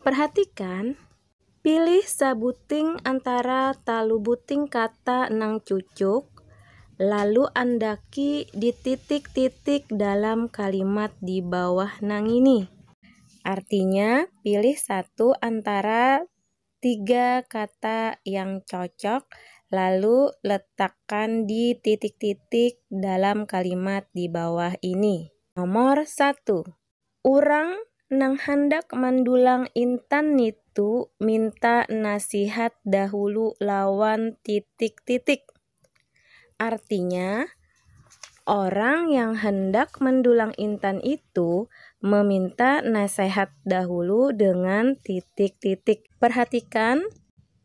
Perhatikan, Pilih sabuting antara talu buting kata nang cucuk, lalu andaki di titik-titik dalam kalimat di bawah nangini. Artinya, pilih satu antara tiga kata yang cocok, lalu letakkan di titik-titik dalam kalimat di bawah ini. Nomor satu. Urang nang handak mandulang intan nitu minta nasihat dahulu lawan titik-titik. Artinya, orang yang handak mandulang intan itu meminta nasehat dahulu dengan titik-titik. Perhatikan.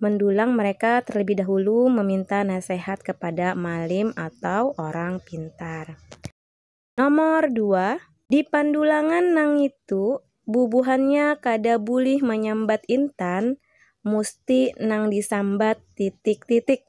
Mendulang mereka terlebih dahulu meminta nasihat kepada malim atau orang pintar. Nomor dua, di pandulangan nangitu bubuhannya kada bulih manyambat intan, musti nang disambat titik-titik.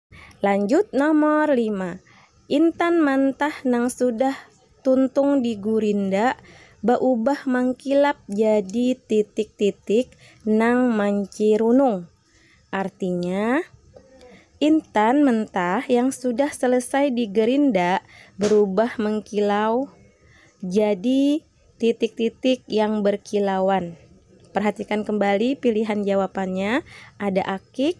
Lanjut nomor lima, intan mantah nang sudah tuntung di gurinda baubah mangkilap jadi titik-titik nang mancirunung. Artinya, intan mentah yang sudah selesai di gerinda berubah mengkilau jadi titik-titik yang berkilauan. Perhatikan kembali pilihan jawapannya, ada akik,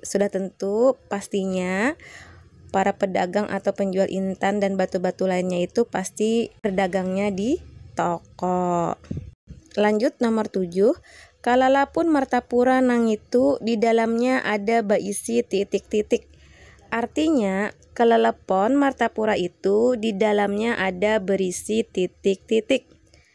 Sudah tentu, pastinya, para pedagang atau penjual intan dan batu-batu lainnya itu pasti berdagangnya di toko. Lanjut nomor tujuh, kalalapun martapura nangitu di dalamnya ada baisi titik-titik. Artinya, kalalepon martapura itu di dalamnya ada berisi titik-titik.